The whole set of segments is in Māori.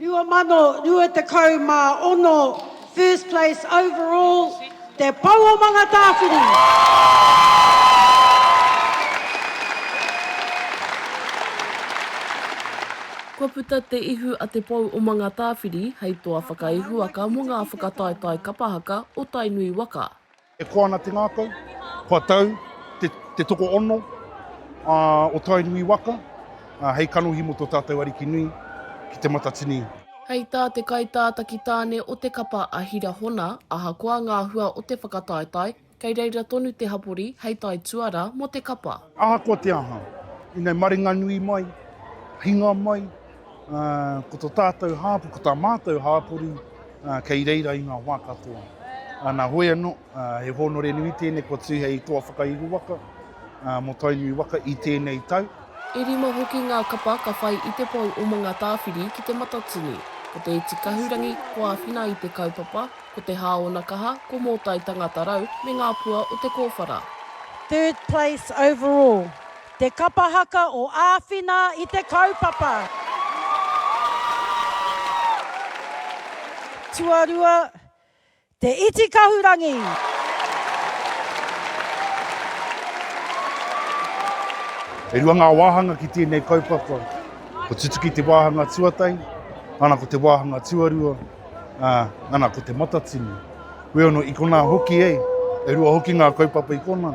2026 First place overall Te Pou o Mangatāwhiri! Kua puta te ihu a Te Pou o Mangatāwhiri hei toa whakaihuwaka mō ngā whakataetae kapa haka o Tainui waka. E koa ana te ngākau, kua tau te te tokoono o Tainui waka hei kanohi mō tō tātou Ariki nui ki Te Matatini. Hei tā te kaitātaki tāne o te kapa a Hira Hona, ahakoa ngā hua o te whakataetae, kei reira tonu te hapori hei tae tuara mō te kapa. Ahakoa te aha, inei maringanui mai, hinga mai, Ko to tātou hāpori, ko tā mātou hāpori kei reira i ngā wā katoa. Nā hoi anō, he hōnore nui tēnei kua tū hei toa whakaihu waka mō Tainui waka i tēnei tau. E rima hoki ngā kapa ka whai i te pou o Mangatāwhiri ki Te Matatini. Ko Te Iti Kahurangi, ko Āwhina i te kaupapa, ko Te Hāonakaha, ko Mōtai Tangata Rau me ngā pua o te kōwhara. Third place overall Te Kapa Haka o Āwhina i te kaupapa. Tuarua, Te Iti Kahurangi. E rua ngā wāhanga ki tēnei kaupapa. Ko Tutuki te wāhanga tuatahi, nana ko te wāhanga tuarua, ā, nana ko Te Matatini. Wheono i konā hoki, e rua hoki ngā kaupapa i konā.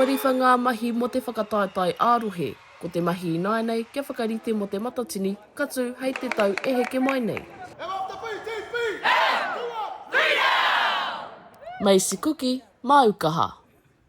Kua riwha ngā mahi mō te whakataetae ā-rohe, ko te mahi ināianei kia whakarite mō te Matatini ka tū hei te tau e heke mai nei. Macy Kuki, Māu Kaha.